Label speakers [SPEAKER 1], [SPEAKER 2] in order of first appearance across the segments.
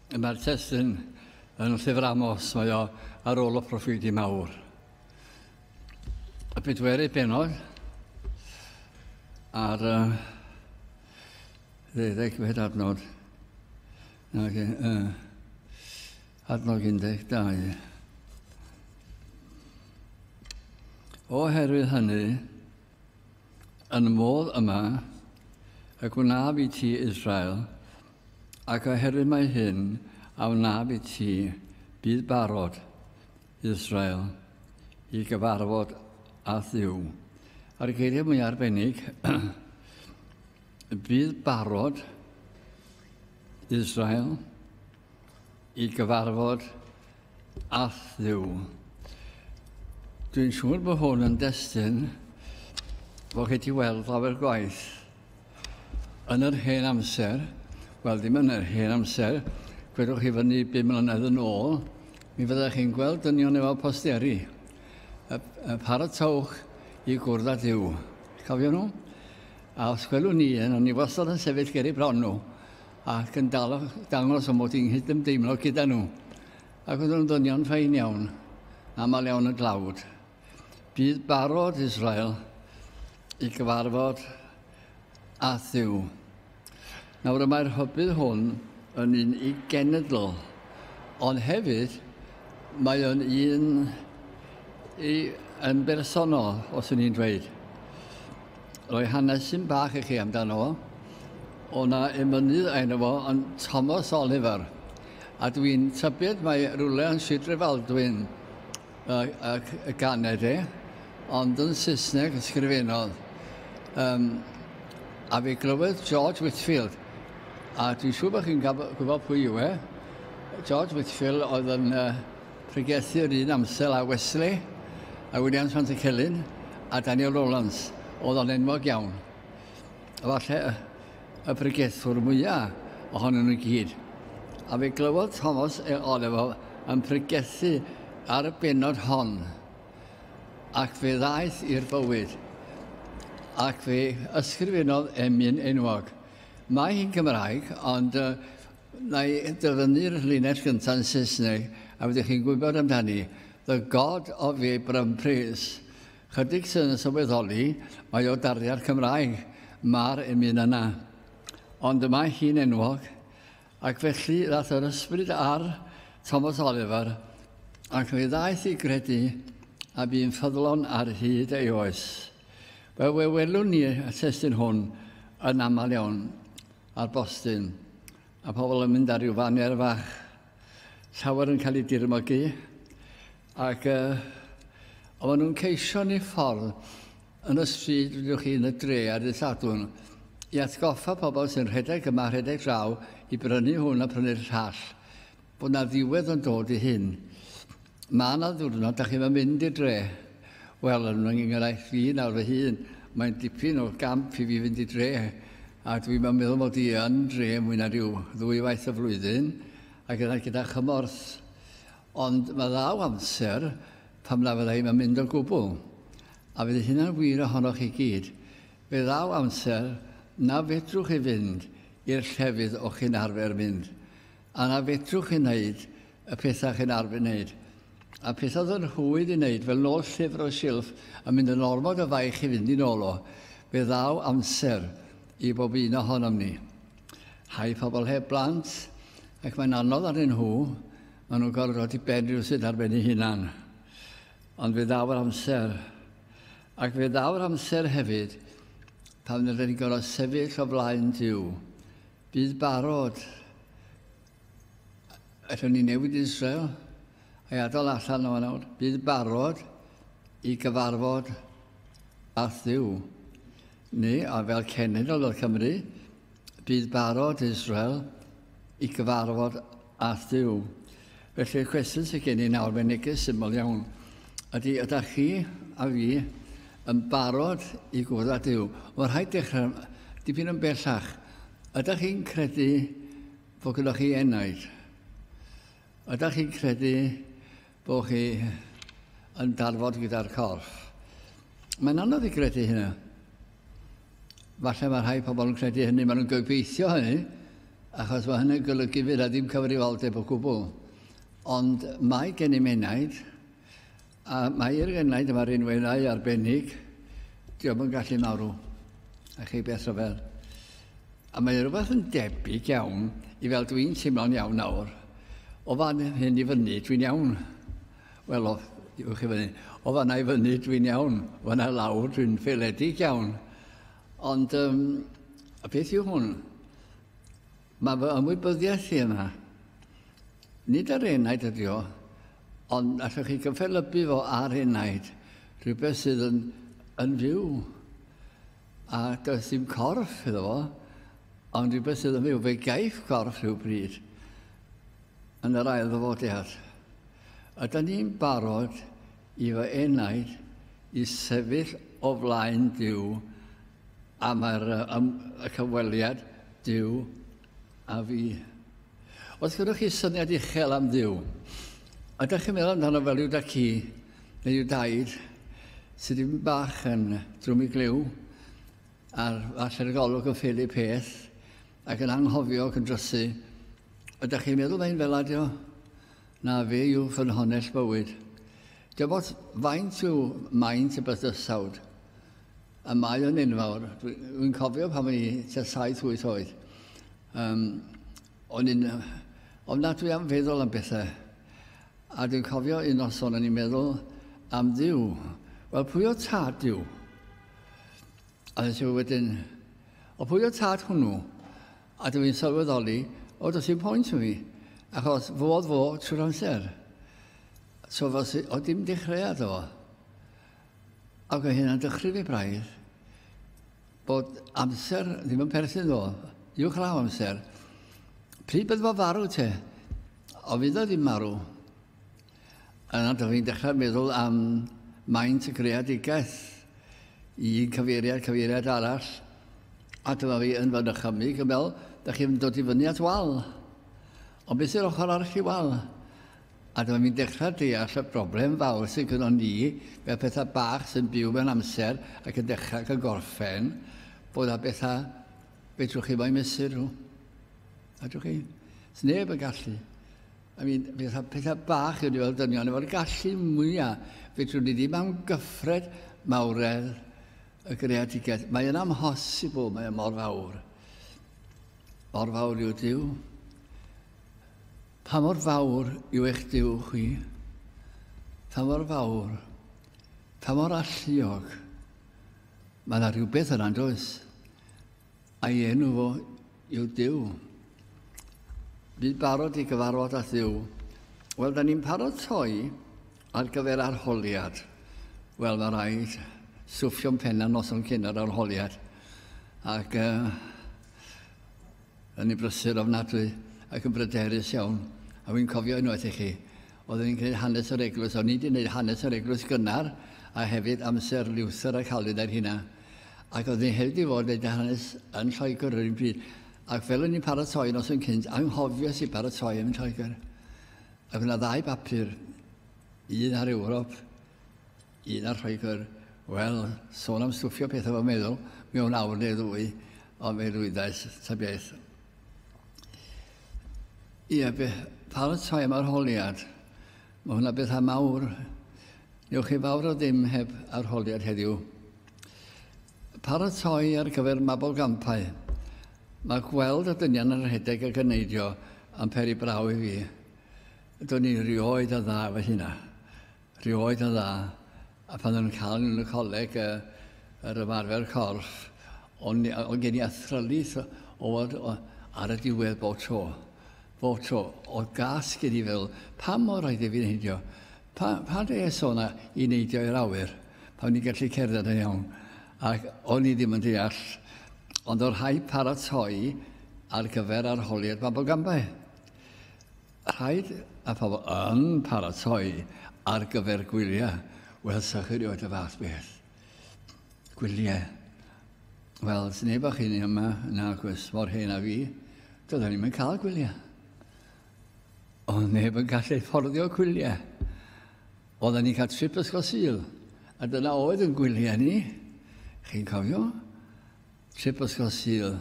[SPEAKER 1] Mae'r testyn yn llyfr Amos, mae o ar ôl y proffidi mawr. Y bedwerydd benod ar uh, ddeuddeg fed adnod ac uh, adnod 12. Oherwydd hynny, Yn y modd yma y gwnaf i ti Israel, ac oherwydd mae hyn a wnaf i ti, bydd barod Israel i gyfarfod â Dduw. A'r geiriau mwy arbennig, bydd barod Israel i gyfarfod â Dduw. Dwi'n siŵr bod hwn yn destyn bod chi wedi weld lawer gwaith yn yr hen amser, wel ddim yn yr hen amser, gwedwch chi fyny 5 mlynedd yn ôl, mi fyddech chi'n gweld dynion efo posteri. Y, y paratowch i gwrdd â Dyw. Cofio nhw? A os gwelwn ni un, o'n i wastad yn sefyll ger ei bron nhw, ac yn dal dangos am bod hi'n nghydymdeimlo gyda nhw. Ac oedd nhw'n ddynion ffain iawn, aml iawn y dlawd. Bydd barod Israel i gyfarfod a Dduw. Nawr y mae'r hybydd hwn yn un i genedl, ond hefyd mae o'n un i, yn bersonol, os yn i'n dweud. roi hanesyn bach i chi amdano fo. O na emynydd ein fo yn Thomas Oliver. A dwi'n tybed mae rhywle yn Sidre Faldwyn ac y ganed e, ond yn Saesneg ysgrifennodd. Um, a fi glywed George Whitfield, a dwi'n siŵr bod chi'n gwybod pwy yw e. George Whitfield oedd yn uh, Pregethir yr un amser â Wesley, a Williams Pant y Celyn, a Daniel Rowlands, oedd o'n enwog iawn. Efallai y pregethwr mwyaf ohonyn nhw gyd. A fe glywodd Thomas e Olevo yn pregethu ar y benod hon, ac fe ddaeth i'r bywyd, ac fe ysgrifennodd emyn enwog. Mae hi'n Gymraeg, ond Na i dyfynnu'r linell gyntaf yn Saesneg a fyddwch chi'n gwybod amdani, The God of the Abraham Prays. Chydig sydd yn sylweddoli, mae o darddiad Cymraeg, mae'r emyn yna. Ond y mae hi'n enwog, ac felly ddath yr ysbryd ar Thomas Oliver, ac fe ddaeth i gredu a bu'n ffyddlon ar hyd ei oes. Fel we welwn ni y testyn hwn yn aml iawn, Ar Boston, a pobl yn mynd ar ryw faner fach, llawer yn cael ei dirmogi, ac uh, o maen nhw'n ceisio ni ffordd yn y stryd, rydych chi, yn y dre ar y sadwn, i atgoffa pobl sy'n rhedeg yma, rhedeg draw, i brynu hwn a prynu'r llall. Bod 'na ddiwedd yn dod i hyn. Mae 'na ddiwrnod, da chi'n fawr mynd i'r dre. Wel, yn fy ngenghraifft fi nawr fy hun, mae'n dipyn o gamp i fi fynd i dre, a dwi'n fawr meddwl mod i yn dre mwy na rhyw ddwy waith y flwyddyn, a gyda, gyda chymorth. Ond mae ddaw amser pam na fydda i'n mynd o gwbl. A fydd hynna'n wir ohonoch chi gyd. Fe ddaw amser na fedrwch chi fynd i'r llefydd o'ch chi'n arfer mynd. A na fedrwch chi wneud y pethau chi'n arfer wneud? A pethau oedd yn rhwydd i wneud, fel nôl llyfr o'r silff a mynd yn ormod o faich i fynd i nôl o. Fe ddaw amser i bob un ohonom ni. Rhai pobl heb blant, ac mae'n anodd arnyn nhw, maen nhw'n gorfod dod i ben rhywsut ar ben ei hunan. Ond fe ddaw'r amser. Ac fe ddaw'r amser hefyd pan rydyn ni'n gorfod sefyll o flaen Duw, Bydd barod. Allwn ni newid Israel a'i adael allan o nawr. Bydd barod i gyfarfod â Thyw. Ni, a fel cenedl o Cymru, bydd barod Israel i gyfarfod A'th Duw. Felly'r cwestiwn sydd gen i nawr, mae'n neges syml iawn, ydy, ydych chi a fi yn barod i gwrdd â Duw? Mae'n rhaid dechrau dipyn yn bellach. Ydych chi'n credu fod gyda chi enaid? Ydych chi'n credu Bo chi yn darfod gyda'r corff. Mae'n anodd i gredu hynna. Falle mae rhai pobl yn credu hynny, maen nhw'n gobeithio hynny, achos mae hynny'n golygu fydd a ddim cyfrifoldeb o gwbl. Ond mae gen i menaid, a mae'r gennaid yma rinweddau arbennig, diolch yn gallu marw. A chi beth o fel. A mae rhywbeth yn debyg iawn i fel dw i'n teimlo'n iawn nawr. O fan hyn i fyny, dwi'n iawn. Wel, o, diwch chi fyny. O fanna i fyny, dwi'n iawn. O fanna i lawr, dwi'n ffeiledig iawn. Ond um, y peth yw hwn, mae fy ymwybyddiaeth i yna. Nid ar enaid ydi o, ond allwch chi gyffelybu fo ar enaid, rhywbeth sydd yn, yn fyw. A does dim corff iddo fo, ond rhywbeth sydd yn fyw, fe gaiff corff rhywbryd yn yr ail ddyfodiad. A da ni'n barod i fy enaid i sefyll o flaen Dyw a mae'r y cyfweliad Dyw a fi. Os gyda chi syniad uchel am Dduw, ydych chi'n meddwl amdano fel yw da ci neu yw daid sydd ddim bach yn drwm i glyw a'r faller golwg yn ffili peth ac yn anghofio ac yn drysu. Ydych chi'n meddwl mae'n fel adio? Na fe yw fy nhonell bywyd. Dim ots faint yw maint y bydysawd. A mae o'n enfawr. Dwi'n cofio pan o'n i tua 7-8 oed. Um, o'n i'n uh, ofnadwy am feddwl am bethau. A dwi'n cofio un noson o'n i'n meddwl am ddiw. Wel, pwy o tad diw? A nes i wedyn, o pwy o tad hwnnw? A dwi'n sylweddoli, o, does i'n pwynt yn fi, achos fo oedd fo trwy'r amser. So, fos, o dim dechreuad o. Ac o hynna'n dychryn i braidd. Bod amser ddim yn perthyn ddo. Uwch law amser. Pryd bydd fo farw te? O fydd o ddim marw. Yna dych chi'n dechrau meddwl am maint y greadigaeth i un cyfeiriad, cyfeiriad arall. A dyma fi yn fy nychymig yn fel, dych chi'n dod i fyny at wal. Ond beth yw'r ochr arall i wal? A dyma fi'n dechrau deall y broblem fawr sydd gynnon ni fel pethau bach sy'n byw mewn amser ac yn dechrau ac yn gorffen, bod â bethau fedrwch chi mo'i mesur nhw. A dwi'n chi? Does neb yn gallu. I mean, pethau, pethau bach yw ni fel dynion, efo'r gallu mwyaf, fedrwn ni ddim am gyffred mawredd y greadigaeth. Mae yna amhosibl, mae yna mor fawr. Mor fawr yw Dyw. Pa mor fawr yw eich Duw chi? Pa mor fawr? Pa mor alluog? Mae yna rhywbeth yna, does? A'i enw fo yw Duw. Bydd barod i gyfarfod â Duw. Wel, da ni'n paratoi ar gyfer arholiad. Wel, mae rhaid swffio'n penna noson cyn yr arholiad. Ac uh, Ro'n i'n brysur ofnadwy ac yn bryderus iawn, a wi'n cofio unwaith i chi, oedden ni'n gwneud hanes yr eglwys, o'n i wedi gwneud hanes yr eglwys gynnar, a hefyd amser Luther a Calvin a'r hynna, ac oedden ni hefyd i fod yn gwneud hanes yn Lloegr yr un pryd, ac fel o'n i'n paratoi nos yn cynt, anghofies i baratoi yn Lloegr, ac o'na ddau bapur, un ar Ewrop, Un ar Lloegr, wel, sôn am stwffio pethau fy meddwl, mewn awr neu ddwy, ond fe lwyddais ta beth. Ie, be, paratoi am arholiad. Mae hwnna bethau mawr. Newch chi fawr o ddim heb arholiad heddiw. Paratoi ar gyfer mabol gampau. Mae gweld y dynion yn rhedeg a gyneidio yn peri braw i fi. Do'n i rioed yn dda efo hynna. Rhyw oed yn dda, a pan o'n cael yn y coleg uh, yr ymarfer corff, o'n on gen i athrylith o fod ar y diwedd bob tro. Bob tro, o gas gen i fel, pa mor rhaid i fi neidio? Pa, pa dde es o'na i neidio i'r awyr? Pa o'n i'n gallu cerdded yn iawn? Ac o'n i ddim yn deall, ond o'r rhai paratoi ar gyfer arholiad Babogambau. Rhaid a phobl yn paratoi ar gyfer gwyliau. Wel, sa chi rioed y fath beth. Gwyliau. Wel, sy'n neb o'ch hyn yma, na gwrs, mor hen a fi, doedden ni'n cael gwyliau. Ond neb yn gallu fforddio gwyliau. Oedden ni'n cael trip ysgol syl, a dyna oedd yn gwyliau ni. Chi'n cofio? Trip Ysgol Sul.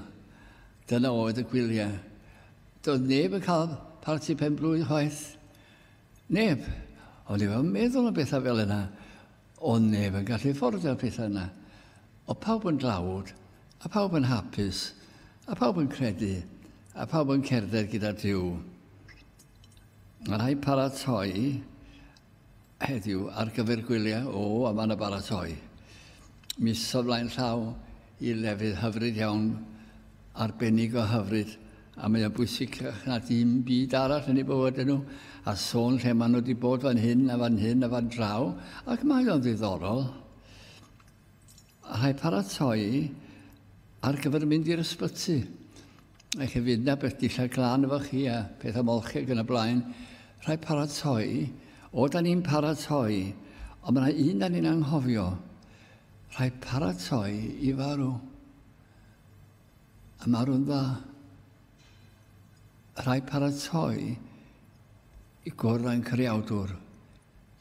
[SPEAKER 1] Dyna oedd y gwyliau. Doedd neb yn cael parti pen blwydd chwaith. Neb. Ond efo meddwl am bethau fel yna, ond neb yn gallu ffordio'r pethau yna. O pawb yn dlawd, a pawb yn hapus, a pawb yn credu, a pawb yn cerdded gyda Dyw. Mae rhai paratoi heddiw ar gyfer gwyliau o a mae'n y baratoi. Mis o flaen llaw i lefydd hyfryd iawn, arbennig o hyfryd, a mae o'n bwysig na dim byd arall yn ei bywyd nhw, a sôn lle maen nhw wedi bod fan hyn a fan hyn a fan draw, ac mae o'n ddiddorol. Rhaid paratoi ar gyfer mynd i'r ysbyty. Ac hefyd na beth dillad glan efo chi a pethau molcheg yn y blaen. Rhaid paratoi. O, da ni'n paratoi. Ond mae yna un da ni'n anghofio. Rhaid paratoi i farw. A marw'n dda. Rhaid paratoi I gwrdd â'n Creawdwr,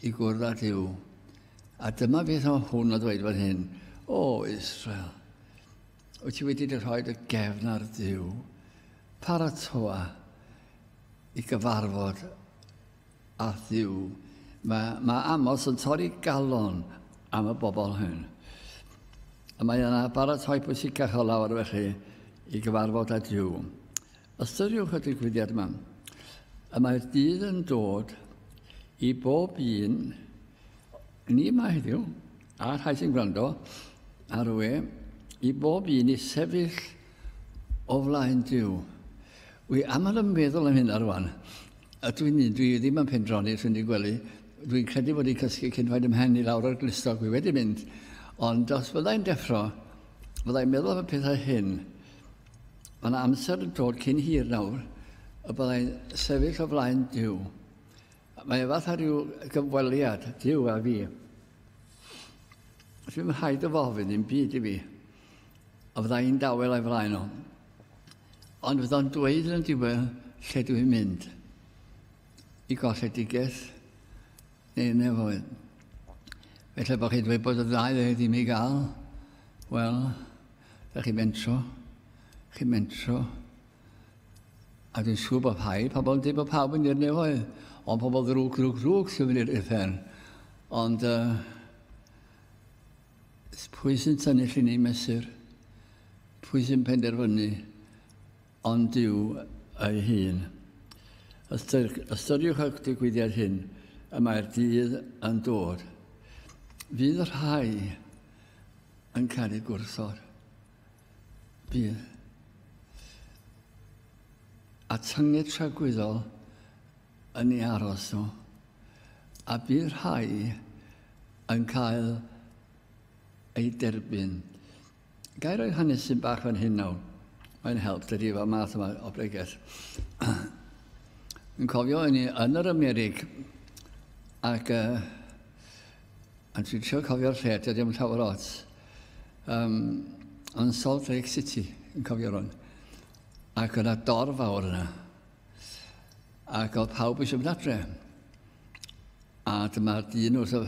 [SPEAKER 1] i gwrdd â Duw. A dyma beth o hwn o ddweud fan hyn, O Israel, wyt ti wedi dy rhoi dy gefn ar Duw, paratoa i gyfarfod â Duw. Mae, mae Amos yn torri galon am y bobl hyn. A mae yna baratoi pwysicach o lawr felly i gyfarfod â Dyw. Ystyriwch y digwyddiad yma. Y mae'r dydd yn dod i bob un ni yma heddiw, a rhai sy'n gwrando ar y we, i bob un i sefyll o flaen Dyw. Wy aml yn meddwl am hynna rwan. A dwi'n un, dwi ddim yn pendroni, dwi'n wedi gwely. Dwi'n credu bod i'n cysgu cyn rhaid ymhen i lawr o'r glistog, wy wedi mynd. Ond os fyddai'n deffro, fyddai'n meddwl am y pethau hyn. Mae yna amser yn dod cyn hir nawr y byddai'n sefyll o flaen Dyw. Mae e fatha rhyw gyfweliad, Dyw a fi. Dwi'n rhaid o fofyn i'n byd i fi, a fydda i'n dawel a'i flaen o. Ond fydda'n dweud yn y diwedd lle dwi'n mynd. I golledigaeth neu nefoedd. Felly bod chi'n dweud bod y ddau ddweud i mi gael, wel, Da chi mentro, chi mentro, a dwi'n siŵr bod rhai pobl yn dweud bod pawb yn i'r nefoedd, ond pobl ddrwg, ddrwg, ddrwg sy'n mynd i'r uffern. Ond uh, pwy sy'n tynnu llun i'n mesur? Pwy sy'n penderfynu ond Duw ei hun. Ystyriwch y digwyddiad hyn, y mae'r dydd yn dod. Fydd y rhai yn cael ei gwrthod. Bydd. A tynged tragwyddol yn ei aros nhw. A bydd rhai yn cael ei derbyn. Ga i roi hanesydd bach fan hyn nawr? Mae'n help dydy fel math yma o bregeth. Yn cofio yn, yn yr Amerig ac uh, yn trio cofio'r lle, dydy ddim llawer ots. Um, yn Salt Lake City, yn cofio rhywun. Ac yna dorf fawr yna. Ac oedd pawb eisiau mynd adre. A dyma'r dyn wrth y,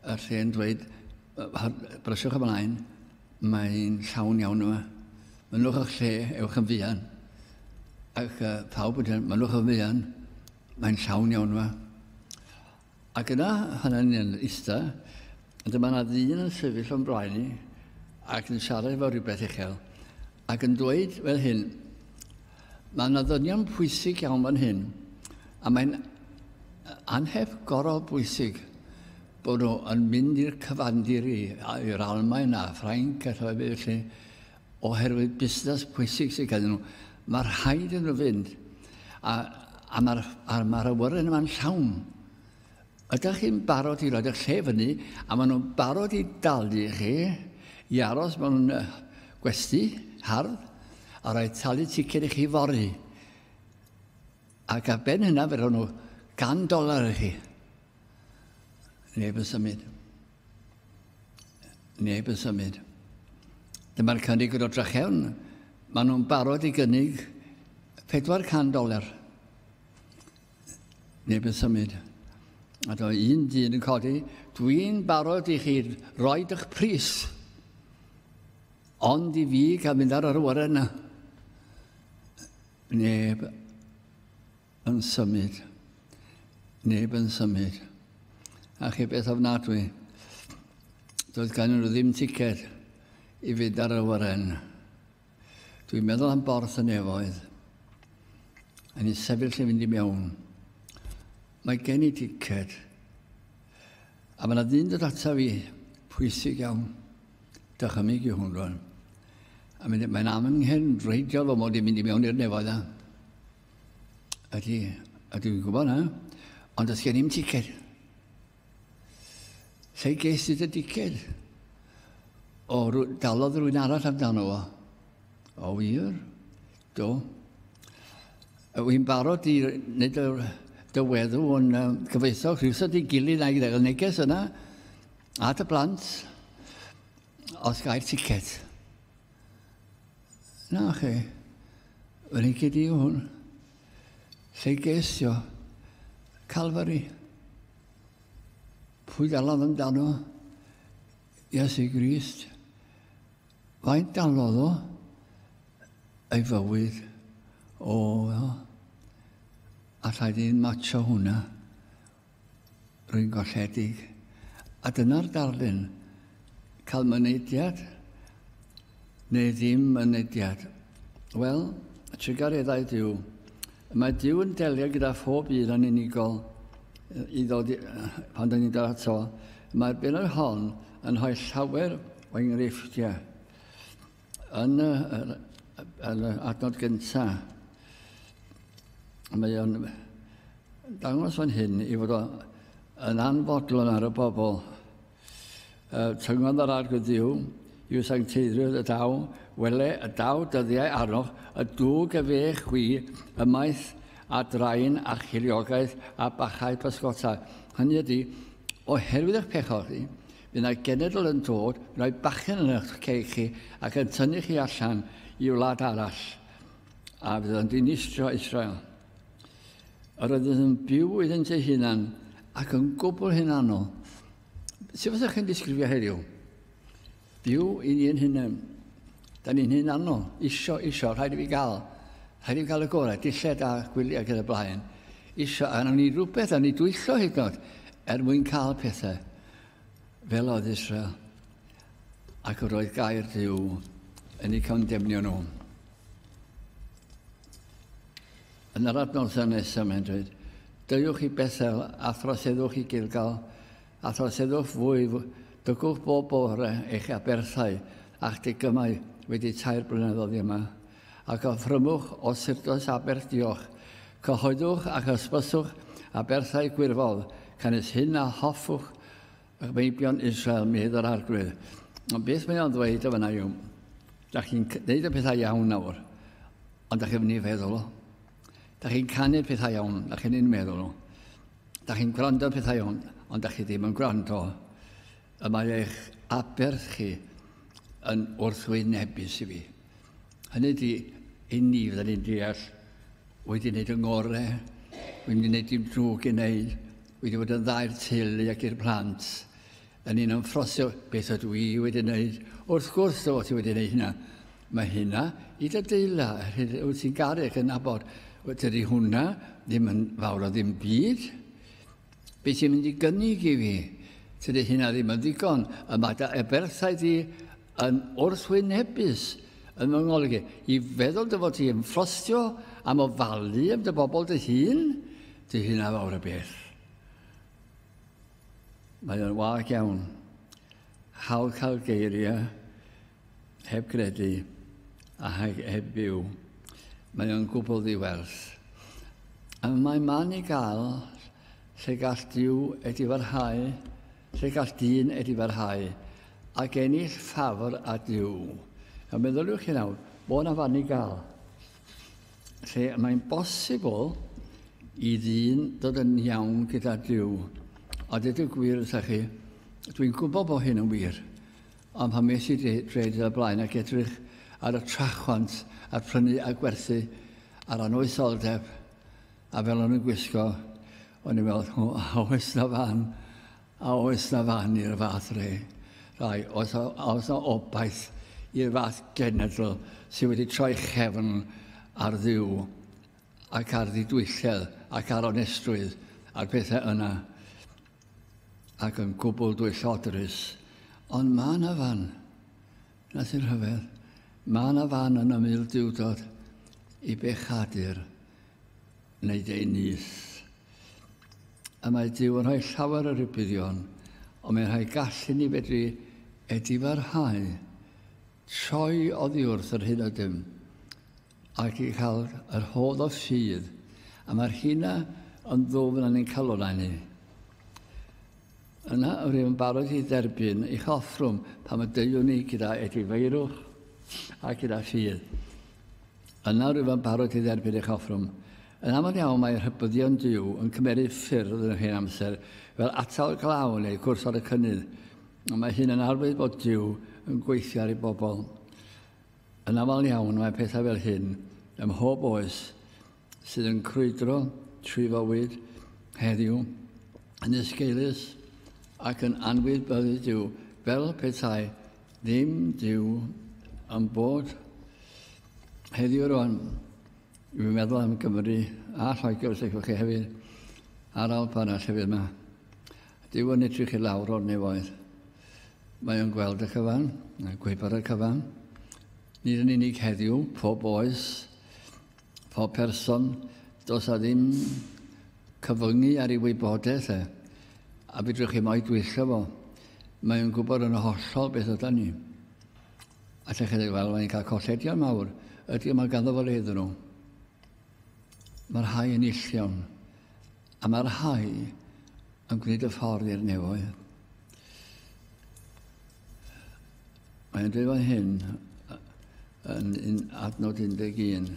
[SPEAKER 1] y lle'n dweud, brysiwch ymlaen, mae'n llawn iawn yma. Mynwch o'ch lle, ewch yn fuan. Ac uh, pawb yn dweud, mynwch o'ch fuan, mae'n llawn iawn yma. Ac yna, pan o'n i'n ista, dyma na ddyn yn sefyll o'n blaen i, ac yn siarad efo rhywbeth uchel, ac yn dweud fel hyn, Mae yna ddynion pwysig iawn fan hyn, a mae'n anheb gorau bwysig bod nhw yn mynd i'r cyfandir i, i'r Almaen a Ffrainc a rhywbeth felly, Oherwydd busnes pwysig sydd ganddyn nhw, mae rhaid iddyn nhw fynd. A, a mae'r a mae'r awyren yma'n llawn. Ydych chi'n barod i roed eich lle fyny, a maen nhw'n barod i dalu chi i aros mewn gwesti hardd, a rhaid talu ticed i chi fori. Ac ar ben hynna, fe roed nhw gan dolar i chi. Neb yn symud. Neb yn symud. Dyma'r cynnig yn o drachewn. Maen nhw'n barod i gynnig 400 doler. Neb yn symud. A do un dyn yn codi, dwi'n barod i chi roi eich pris. Ond i fi cael mynd ar yr awyren yna. Neb yn symud. Neb yn symud. A chi beth ofnadwy, doedd gan nhw ddim ticed i fynd ar y wyren. Dwi'n meddwl am borth y nefoedd. A ni sefyll yn fynd i mewn. Mae gen i ticed. A mae yna ddyn dod ata fi, pwysig iawn. Dychymig i hwn rwan. A mae'n am yng nghefn reidiol o mod i'n mynd i mewn i'r nefoedd yna. Ydy, a dwi'n gwybod na, ond os gen i'n ticed. Sa'i ges i dy ticed. O, dalodd rwy'n arall amdano fo. O wir? Do. Wy'n barod i wneud y dyweddw o'n um, gyfoethog rhywsod i gilydd a'i ddeg neges yna at y blant os gael ticed. Na chi. Yr hyn cyd i yw hwn. Lle geisio. Calfari. Pwy galodd amdano? Iesu Grist. Faint galodd o? Ei fywyd. O, a rhaid i'n macho hwnna. Rhyngolledig, a dyna'r darlun, cael mynediad neu ddim mynediad. Wel, y trugareddau Duw. Mae Duw yn delio gyda phob un yn unigol i ddod i, pan dyn ni'n dod ato. Mae'r benod hon yn rhoi llawer o enghreifftiau. Yn y, yn y adnod gyntaf, mae o'n dangos fan hyn i fod o yn anfodlon ar y bobl. E, tyngodd yr arg y ddiw, i'w sancteiddrwydd y daw, wele y daw dyddiau arnoch, y dwg y fe chwi ymaith a draen a chiliogaeth a bachau pysgota. Hynny ydy, oherwydd eich pechod chi, Fe wna i genedl yn dod, rhoi bachgen yn eich cei chi ac yn tynnu chi allan i wlad arall, a fydd yn dinistrio Israel. Yr oedd yn byw iddynt ei hunan ac yn gwbl hunanol. Sut fyddwch chi'n disgrifio heddiw? Byw i ni yn hunan. Da ni'n hunanol, isio, isio, rhaid i fi gael. Rhaid i fi gael y gorau, dilled a gwyliau gyda blaen. Isio, a wnawn ni rhywbeth, a ni dwyllo hyd yn oed, er mwyn cael pethau. Fel oedd Israel, ac yr oedd gair Dyw yn ei condemnio nhw. Yn yr adnoddau nesaf mae'n dweud, Dygwch i Bethel a throseddwch i Gilgal, a throseddwch fwy, dygwch bob bore eich aberthau a'ch digymau wedi tair blynedd oddi yma. a chyfrymwch o Syrdoes Aberth Diolch. Cyhoeddwch ac ysbyswch aberthau gwirfodd, canys hyn a hoffwch y meibion Israel, medd yr Arglwydd. Ond beth mae o'n ddweud o fyna yw, da chi'n gwneud y pethau iawn nawr, ond da chi'n mynd i feddwl o. Da chi'n canu pethau iawn, da chi'n un meddwl o. Da chi'n gwrando pethau iawn, ond da chi ddim yn gwrando. Y mae eich aberth chi yn wrthwynebus i fi. Hynny ydi, i ni fydden ni'n deall wedi wneud yng ngore, wedi wneud dim drwg i wneud, wedi bod yn ddau'r teulu ac i'r plant, yn un o'n ffrosio beth ydw i wedi wneud. Wrth gwrs o ti wedi wneud hynna. Mae hynna i dy deula, wyt ti'n garu ac yn abod. Dydy hwnna ddim yn fawr o ddim byd. Be ti'n mynd i gynnig i fi? Dydy hynna ddim yn ddigon. Y mae dy eberthau di yn wrthwynebus yn fy ngolygu i feddwl dy fod ti yn ffrostio am ofalu am dy bobl dy hun, dy hun a fawr y beth. Mae o'n wag iawn. Hawl cael geiriau heb gredu a heb byw. Mae o'n gwbl ddiwerth. A mae man i gael lle gall diw edifarhau Lle gall dyn edifarhau ac ennill ffafr a Duw? A meddyliwch chi nawr, bod yna fan i gael. Lle mae'n bosibl i ddyn dod yn iawn gyda Duw. A dweud y gwir wrthych chi, dwi'n gwybod bod hyn yn wir. Ond pan mes i dreid y blaen ac edrych ar y trachwant a'r prynu a gwerthu a'r anoetholdeb, A fel o'n i'n gwisgo, o'n i'n meddwl, a oes na fan, a oes na fan i'r fath re? Rai, oes, a oes na obaith i'r fath genedl sydd wedi troi chefn ar ddiw ac ar ddidwylledd ac ar onestrwydd a'r pethau yna ac yn gwbl dwyllodrus. Ond mae yna fan. Na sy'n rhyfedd. Mae yna fan yn y mildiwdod i bechadur wneud ei nyth. Y mae Dyw yn rhoi llawer o rybuddion, ond mae'n rhoi gallu ni fedru edifarhau, troi oddiwrth yr hyn ydym, ac i cael yr hodd o ffydd, a mae'r hynna yn ddwfn yn ein calonau ni. Yna yr yw'n barod i dderbyn eich offrwm pan y deuwn ni gyda edifeirwch a gyda ffydd. Yna rwyf yn barod i dderbyn eich offrwm. Yn aml iawn mae rhybuddion Duw yn cymeryd ffyrdd yn yr hen amser, fel atal glaw neu gwrs ar y cynnydd, ond mae hyn yn arwydd bod Duw yn gweithio ar ei bobl. Yn aml iawn mae pethau fel hyn ym mhob oes sydd yn crwydro trwy fywyd heddiw yn esgeulus ac yn anwybyddu Duw fel petai Ddim dyw am bod heddiw rwan. Dwi'n meddwl am Gymru a Lloegr os ydych chi hefyd a'r alp arall hefyd yma. Dyw yn edrych i lawr o'r nefoedd. Mae o'n gweld y cyfan, a gwybod y cyfan. Nid yn unig heddiw, pob oes, Pob person, does a ddim cyfyngu ar ei wybodaeth e, a fedrwch chi mo'i dwyllio fo. Mae o'n gwybod yn hollol beth yda ni. A lle chi weld, mae'n cael colledion mawr. Ydy, mae ganddo fo le iddyn nhw. Mae'r rhai yn illion. A mae'r rhai yn gwneud y ffordd i'r nefoedd. Mae'n dweud fan hyn, yn, yn adnod 11,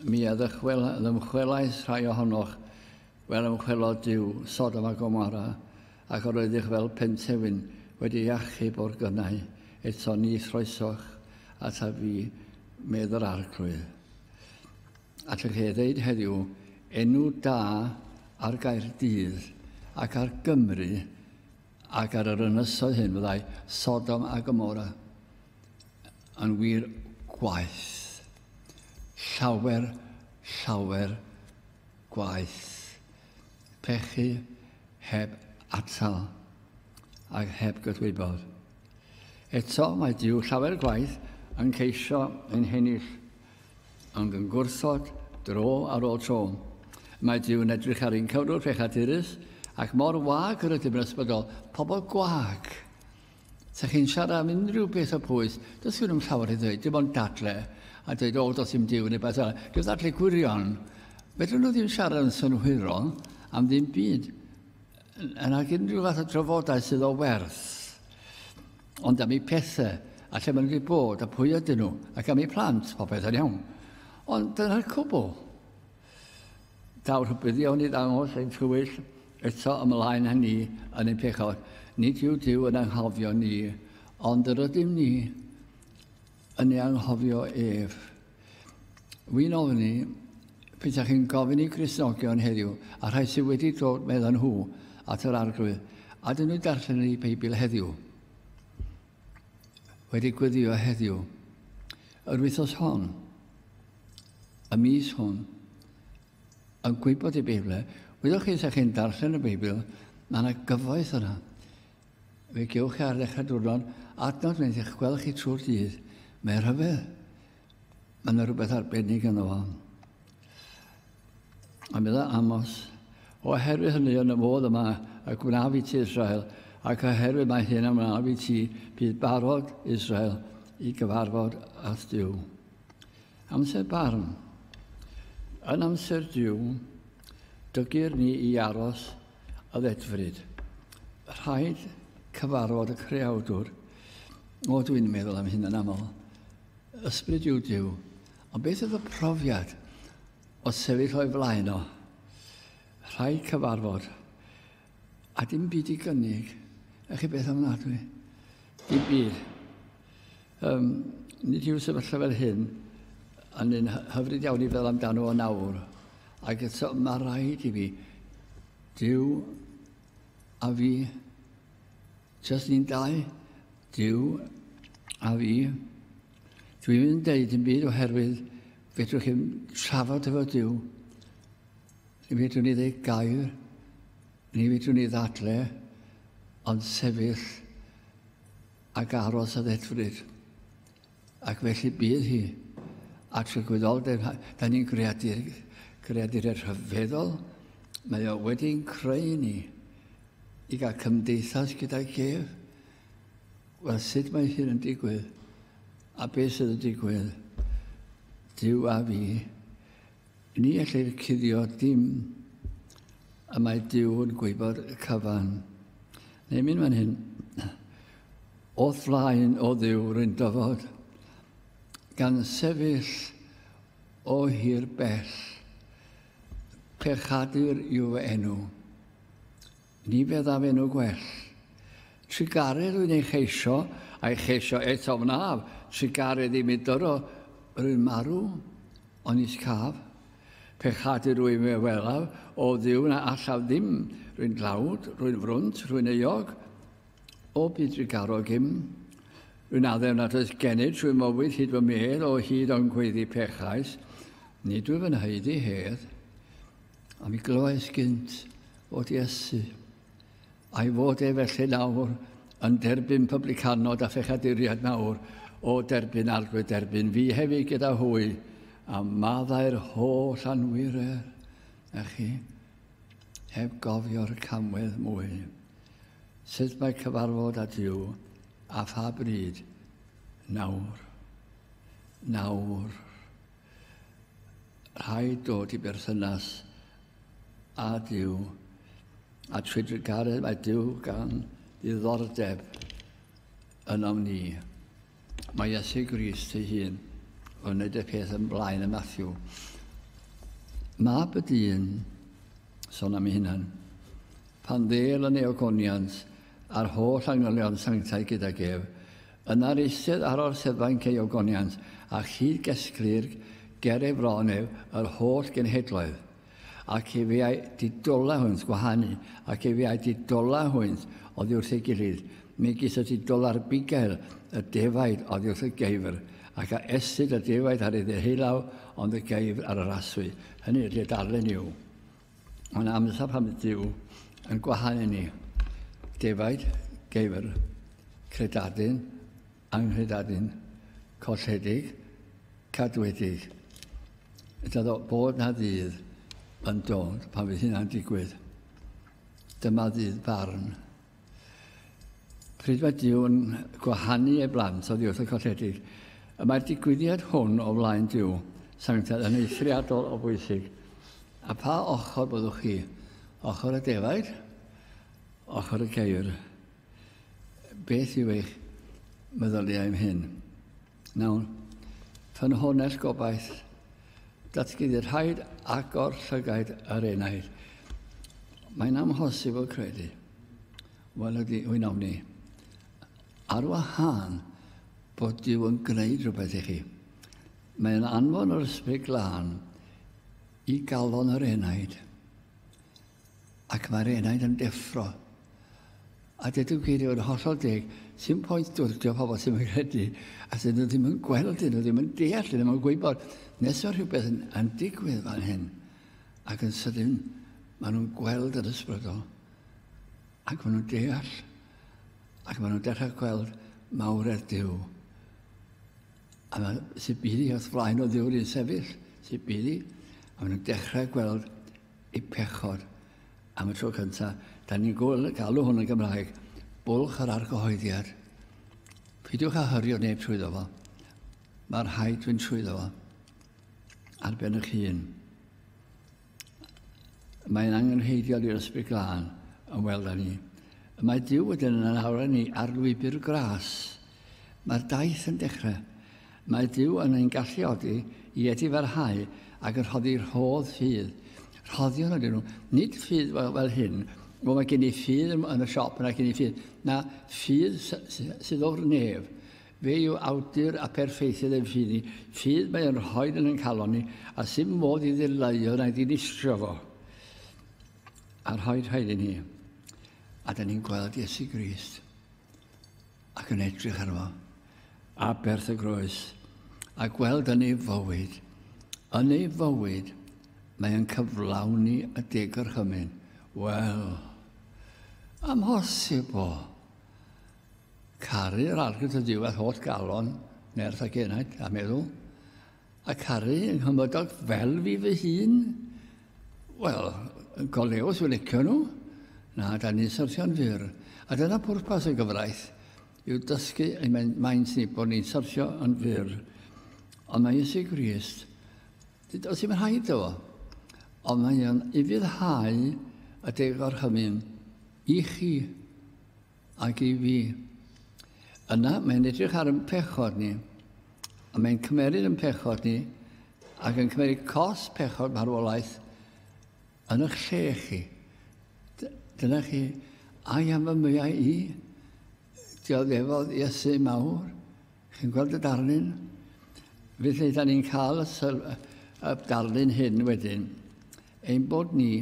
[SPEAKER 1] mi a ddymchwelais rhai ohonoch fel ymchwelo diw sod am a gomara, ac yr oeddech fel pentewin wedi achub o'r gynnau, eto ni throesoch at a fi, medd yr arglwydd. Allech chi ddeud heddiw enw da ar Gaerdydd ac ar Gymru ac ar yr ynysoedd hyn fyddai Sodom a Gomora yn wir gwaeth. Llawer, llawer gwaeth. Pechu heb atal ac heb gydwybod. Eto mae Dyw llawer gwaith yn ceisio ein hennill Ond yn gwrthod, dro ar ôl tro. Mae Duw yn edrych ar ein cyfrwng pechadurus ac mor wag yr ydym yn ysbryd o pobl gwag. Sa chi'n siarad am unrhyw beth o pwys, does gen nhw'n llawer i ddweud, dim ond dadle, a dweud, o, does dim diw neu beth arall. Dim ddadle gwirion. Fedrwn nhw ddim siarad yn synhwyrol am ddim byd, yn ag unrhyw fath o drafodaeth sydd o werth. Ond am eu pethau, a lle maen nhw wedi bod, a pwy ydyn nhw, ac am eu plant, popeth yn iawn. Ond dyna'r cwbl. Daw rhybuddion i ddangos ein twyll eto ymlaen â ni yn ein pechod. Nid yw Dyw yn anghofio ni, ond yr ydym ni Yn ei anghofio ef. Wy'n ofni, pethau chi'n gofyn i Gristnogion heddiw, a rhai sydd wedi dod, meddyn nhw, at yr arglwydd, a dyn nhw darllen yn ei Beibl heddiw, wedi gweddio heddiw, yr wythos hon, y mis hwn, yn gwybod y Beibl. Wyddoch chi, sa chi'n darllen y Beibl, mae yna gyfoeth yna. Fe gewch chi ar ddechrau diwrnod adnod fynd i'ch gweld chi trwy'r dydd. Mae rhyfedd. Mae yna rhywbeth arbennig yno fo. A meddwl Amos, oherwydd hynny yn y modd yma y gwnaf i ti Israel, ac oherwydd mae hyn am wnaaf i ti, bydd barod Israel i gyfarfod â Dyw. Amser barn. Yn amser Dyw, dygir ni i aros a ddedfryd. Rhaid cyfarfod y creawdwr. O, dwi'n meddwl am hyn yn aml. Ysbryd yw Dyw. Ond beth oedd y profiad o sefyll o'i flaen o? Rhaid cyfarfod. A dim byd i gynnig. Ych chi beth ofnadwy? Dim byd. Um, nid yw sefyllfa fel hyn yn un hyfryd iawn i fel amdano o nawr, ac eto mae rhaid i fi, Dyw a fi, jyst ni'n dau, Dyw a fi, dwi ddim yn deud yn byd oherwydd fedrwch chi'n trafod efo Dyw, ni fedrwn ni ddeud gair, ni fedrwn ni ddadle, ond sefyll ac aros a ddedfryd. Ac felly bydd hi at y gwyddoldeb. Da ni'n greadur, greadur er rhyfeddol. Mae o wedi'n creu ni i gael cymdeithas gyda'i gef. Wel, sut mae hyn yn digwydd? A beth sydd yn digwydd? Dyw a fi, Ni ellir cuddio dim, a mae Duw yn gwybod y cyfan. Neu mynd fan hyn, o flaen o Dduw rwy'n dyfod, gan sefyll o hir bell, pechadur yw fy enw. Ni feddaf enw gwell. Trugaredd wy'n ei cheisio, a'i cheisio eto wnaf, trugaredd i mi dyro yr un marw, ond nis caf. Pe chadid rwy'n fy welaf, o Dduw na allaf ddim, rwy'n dlawd, rwy'n frwnt, rwy'n euog, o byd drugarog im. Rwy'n addew nad oes gennyf trwy mywyd hyd fy medd o hyd ond gweiddi pechais, nid wyf yn haeddu hedd. A mi glywais gynt fod Iesu, a'i fod e felly nawr yn derbyn publicanod a phechaduriaid nawr, o derbyn arglwydd derbyn fi hefyd gyda hwy, a maddau'r holl anwyrer, na chi, heb gofio'r camwedd mwy. Sut mae cyfarfod â Dyw, a pha bryd? Nawr. Nawr. Rhaid dod i berthynas â Duw. A trwy drugaredd mae Duw gan ddiddordeb ynom ni. Mae Iesu Grist ei hun yn wneud y peth yn blaen y Matthew. Mab y dyn, son am ei hunan, pan ddel yn ei ogoniant a'r holl angylion sanctaidd gyda gef, Yna'r eistedd ar orseddfa'n cei ogoniant, a chyd-gesglir ger ei fron ef yr holl genhedloedd, ac efe a'i didolau hwynt gwahanu, ac efe a'i didolau hwynt oddi wrth ei gilydd, megis y didola ar bugail y defaid oddi wrth y geifr, ac a estid y defaid ar ei ddeheulaw, ond y geifr ar y raswy. Hynny ydy, y darlun yw, Mae'n amser pan fydd Dyw yn gwahan i ni. Defaid, geifr, credadun, anghredadun, colledig, cadwedig. Dydo bod na ddydd yn dod pan fydd hynna'n digwydd. Dyma ddydd barn. Pryd mae Duw'n gwahanu ei blant oddi wrth y colledig? Y mae'r digwyddiad hwn o flaen Duw, sanctaidd yn eithriadol o bwysig. A pha ochr byddwch chi? Ochr y defaid? Ochr y geir? Beth yw eich meddyliau am hyn? Mewn ffynhonnell gobaith, datguddir rhaid agor llygaid yr enaid. Mae'n amhosibl credu. Wel ydy, wy'n ofni. Ar wahân bod Dyw yn gwneud rhywbeth i chi. Mae'n anfon yr ysbryd glân i galon yr enaid. Ac mae'r enaid yn deffro. A dydw gyd i fod yn hollol deg, sy'n pwynt dwrdio pobl sy'n mynd credu, a sy'n nhw ddim yn gweld, dyn nhw ddim yn deall, dyn nhw ddim yn gwybod, nes o rhywbeth yn, yn digwydd fan hyn, ac yn sydyn, maen nhw'n gweld yr ysbrydol, ac maen nhw'n deall, ac maen nhw'n dechrau gweld mawredd Dyw. A mae sy'n byddi wrth flaen o Dduw'r un sefyll, sy'n byddi, a maen nhw'n dechrau gweld Y pechod. Am y tro cyntaf, da ni'n gweld galw hwn yn Gymraeg. Bwlch yr argyhoeddiad. Pidiwch a hyrio neb trwyddo fo. Mae rhaid fynd trwyddo fo. Ar ben eich hun. Mae'n angenrheidiol i'r ysbryd glân yn weld â ni. Mae Dyw wedyn yn awran ni ar lwybr gras Mae'r daith yn dechrau. Mae Duw yn ein galluogi i edifarhau ac yn rhoddi rhodd ffydd. Rhoddion ydyn nhw. Nid ffydd fel, fel hyn, o mae gen i ffydd yn y siop yna gen i ffydd. Na, ffydd sydd o'r nef. Fe yw awdur a perffeithydd ein ffydd ni. Ffydd mae yn rhoi yn ein calon ni, a sy'n modd i ddileuo na'i ddinistrio fo. A rhoi rhaid i ni. A da ni'n gweld Iesu Grist. ac yn edrych arno a berth y groes a gweld yn ei fywyd. Yn ei fywyd, mae yn cyflawni y deg yr hymyn. Wel, amhosib o. Caru'r arglwydd y diwedd holl galon, nerth ac enaid, a meddwl, A caru yng nghymydog fel fi fy hun? Wel, go lew os yw'n licio nhw. Na, da ni'n syrthio'n fyr. A dyna pwrpas y gyfraith, yw dysgu ein maint ni bod ni'n syrthio yn fyr. Ond mae Iesu Grist, os yw'n rhaid o, ond mae o'n ufuddhau y degorchymyn i chi Ac i fi. Yna mae'n edrych ar yn pechod ni, a mae'n cymeryd yn pechod ni, ac yn cymeryd cos pechod marwolaeth yn eich lle chi. Dyna chi, a i am y mwyau i, dioddefodd Iesu mawr, chi'n gweld y darlun? Felly, da ni'n cael y, syl, y darlun hyn wedyn, ein bod ni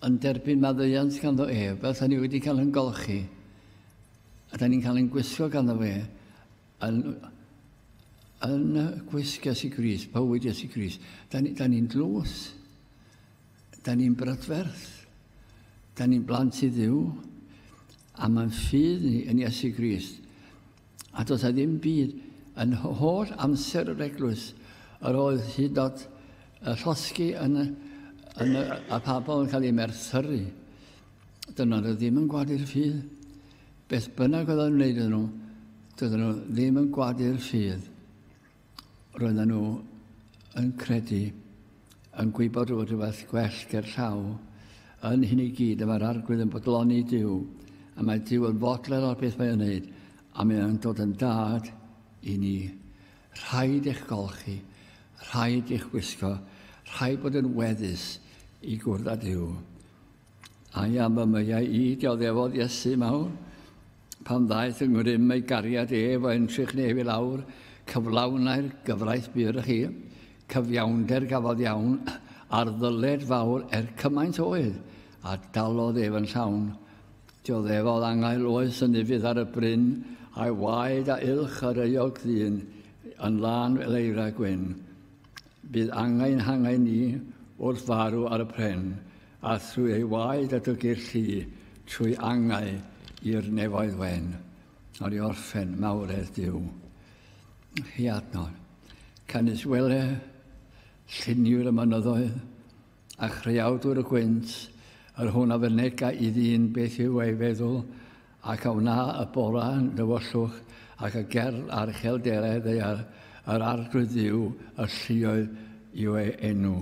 [SPEAKER 1] yn derbyn maddeuant ganddo ef, fel 'sa ni wedi cael yn golchi, a da ni'n cael yn gwisgo ganddo fe, yn, yn gwisg Iesu Gris, bywyd Iesu Gris. Da ni'n ni, ni dlws, da ni'n brydferth, da ni'n blant i ddiw, a mae'n ffydd ni yn Iesu Gris. A does a ddim byd yn holl amser yr eglwys. Yr oedd hyd od y llosgi yn, yn y, a phabl yn cael ei merthyru. Dyna nhw ddim yn gwadu'r ffydd. Beth bynnag oedd yn wneud iddyn nhw, dydyn nhw ddim yn gwadu'r ffydd. Roedden nhw yn credu, yn gwybod bod rhywbeth gwell ger llaw, yn hyn i gyd y mae'r arglwydd yn bodloni Dyw, a mae Dyw yn fodled o'r beth mae'n wneud, a mae o'n dod yn dad i ni. Rhaid eich golchi, rhaid eich gwisgo, rhaid bod yn weddus i gwrdd â Dyw. A i am y myau i, dioddefodd Iesu mawr, Pan ddaeth yng ngrym ei gariad ef o entrych nef i lawr, cyflawnai'r gyfraith bur â chi, cyfiawnder gafodd iawn, ar ddyled fawr er cymaint oedd, a dalodd ef yn llawn. Dioddefodd angael oes yn ufudd ar y bryn, a'i waed a ilch yr euog ddyn, yn lân fel eira gwyn. Bydd angain hangain ni wrth farw ar y pren, A thrwy ei waed a dygir llu, trwy angau i'r nefoedd wen, ar ei orffen mawredd Duw. Hi adnodd, canys wele lluniwr y mynyddoedd, a chreawdwr y gwynt, yr hwn a fynega i ddyn beth yw ei feddwl, ac a wna y bora yn dywyllwch, ac y gerdd a'r chelderau ddeiar, yr arglwydd Dduw y lluoedd yw ei enw.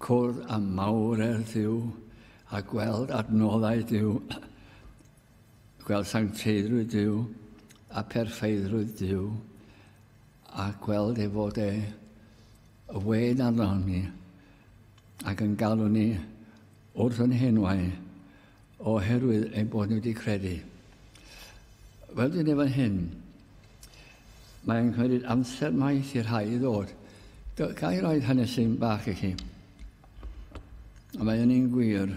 [SPEAKER 1] Cwrdd â mawredd Duw a gweld adnoddau Duw, gweld sancteiddrwydd Duw a perfeiddrwydd Duw, a gweld ei fod e y wên arno ni ac yn galw ni wrth yn henwau Oherwydd ein bod ni wedi credu. Fel dwi'n ei fan hyn, mae'n cymryd amser maith i'r rhai i ddod. Ga i roed hanes sy'n bach i chi? A mae hynny'n gwir.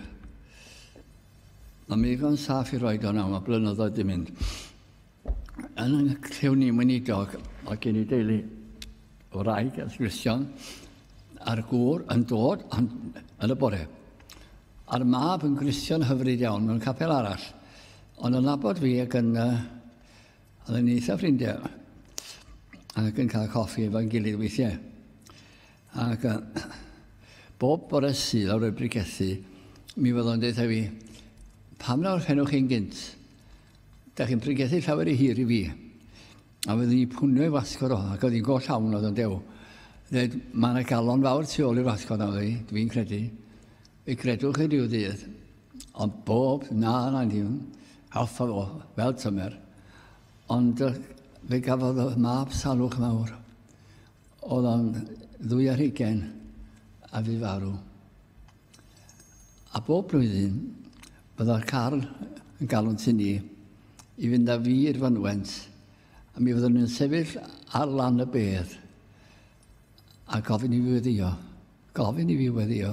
[SPEAKER 1] Mae mi ddigon saff i roed o'n am, a blynyddoedd di mynd. Yn y clyw ni mynidog o gen i deulu o rai a Christian a'r gŵr yn dod yn, yn y bore. A'r mab yn Christian hyfryd iawn mewn capel arall. Ond yn labod fi ac yn uh, oedd yn eitha ffrindiau ac yn cael coffi efo'n gilydd weithiau. Ac uh, bob bore sydd ar y brigethu, mi fyddo'n dweud fi, pam nawr fenwch chi'n gynt? Da chi'n pregethu llawer i hir i fi. A fydden ni pwnio i wasgor o, ac oedd hi'n goll awn oedd yn dew. Dweud, mae yna galon fawr tu ôl i'r wasgor na fi, dwi'n credu. Fe gredwch chi rhyw ddydd. Ond bob, na, na, ddim. Alfa fo, fel tymer. Ond fe gafodd y mab salwch mawr. Oedd o'n ddwy ar hugen a fi farw. A bob blwyddyn, byddai'r car yn galw'n tŷ ni i fynd â fi i'r fynwent, a mi fyddwn ni'n sefyll ar lan y bedd a gofyn i fi weddio, gofyn i fi weddio,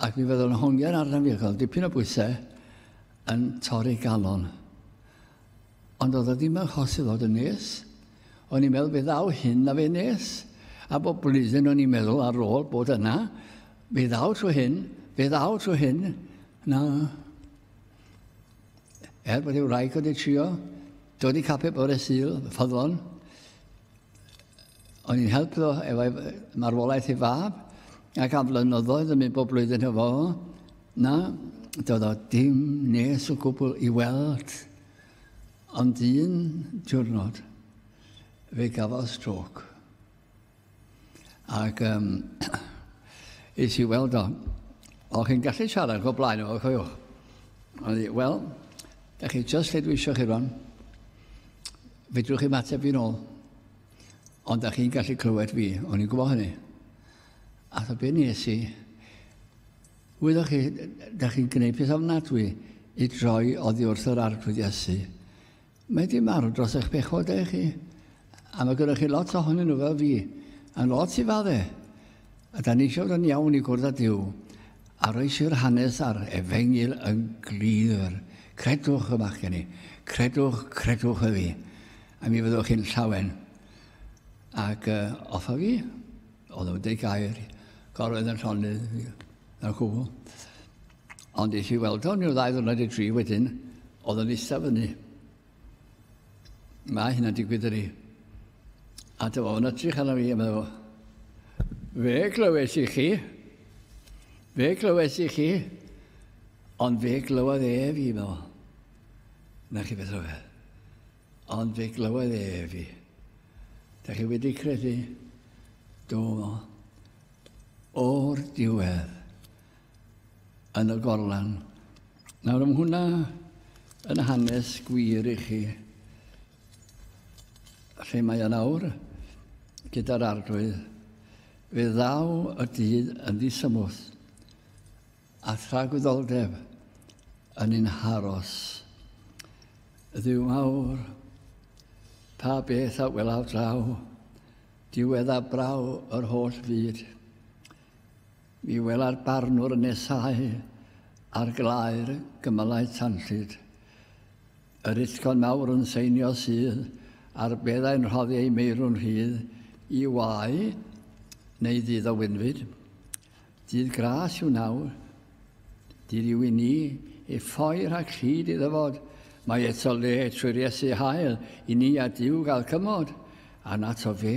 [SPEAKER 1] ac mi fyddwn hongian arnaf fi, ac oedd dipyn o bwysau yn torri galon. Ond oedd o ddim yn hosib fod yn nes. O'n i'n meddwl fe ddaw hyn na fe nes. A bob blwyddyn o'n i'n meddwl ar ôl bod yna, fe ddaw trwy hyn, fe ddaw trwy hyn. Na. Er bod ei wraig wedi trio dod i cape bore syl, ffyddlon, O'n i'n helpu efo marwolaeth ei fab, ac am flynyddoedd yn mynd bob blwyddyn hefo fo, na, doedd o dim nes o gwbl i weld, ond un diwrnod fe gafodd strôc. Ac um, is i weld o. O, chi'n gallu siarad go blaen efo, cofiwch. Wel, da chi just lle dwi eisiau chi rwan. Fedrwch chi'm ateb fi'n ôl. Ond da chi'n gallu clywed fi, o'n i'n gwybod hynny. A tho be nes i, wyddoch chi, da chi'n gwneud peth ofnadwy i droi oddi wrth yr arglwydd Iesu. Mae di marw dros eich pechod eich chi. A mae gyda chi lot ohonyn nhw fel fi, a lot i fadde. A da ni eisiau fod yn iawn i gwrdd â Duw, a roesi'r hanes a'r efengyl yn glir. Credwch y bachgen i. Credwch, credwch y fi. A mi fyddwch chi'n llawen. Ac uh, offa fi, oedd yn dweud gair, gorwedd yn llonydd, yn chwbl. Ond eisiau weld o'n i'w ddau ddwrnod i tri wedyn, oedd yn eistedd fyny. Mae hynna'n digwydd ydy. A dy fo'n edrych arno fi a meddwl, fe glywes i chi, fe glywes i chi, ond fe glywodd e fi, meddwl. Na chi beth rhyfedd. Ond fe glywodd e fi. Da chi wedi credu? Do, meddwl. O'r diwedd, yn y gorlan. Nawr am hwnna yn hanes gwir i chi lle mae yna awr gyda'r arglwydd fe ddaw y dydd yn ddisymwth a thragwyddoldeb yn un haros. Ddiw mawr, pa beth a welaw draw, diwedd a braw yr holl fyd. Mi wela'r barnwr yn nesáu ar glaer gymylau tanllyd. Yr iddcon mawr yn seinio sydd ar beddau'n rhoddi ei meirw'n rhydd i wau neu ddydd o winfyd. Dydd gras yw nawr. Dydd yw i ni ei ffoi rhag llid i ddyfod. Mae eto le trwy'r Iesu hael i ni a Duw gael cymod, a'n ato fe.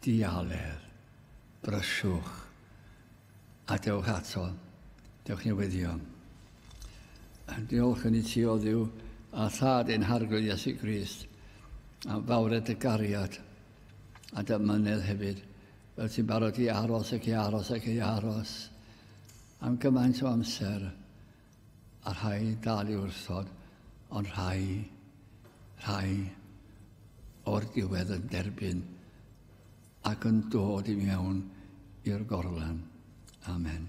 [SPEAKER 1] Dialedd. Brysiwch. A dewch ato. Dewch newyddion. Diolch yn i ti o ddiw a thad ein harglwydd Iesu Grist am fawred y gariad a dy mynedd hefyd fel ti'n barod i aros ac i aros ac i aros am gymaint o amser A rhai dal i wrthod, ond rhai, rhai o'r diwedd yn derbyn ac yn dod i mewn i'r gorlan. Amen.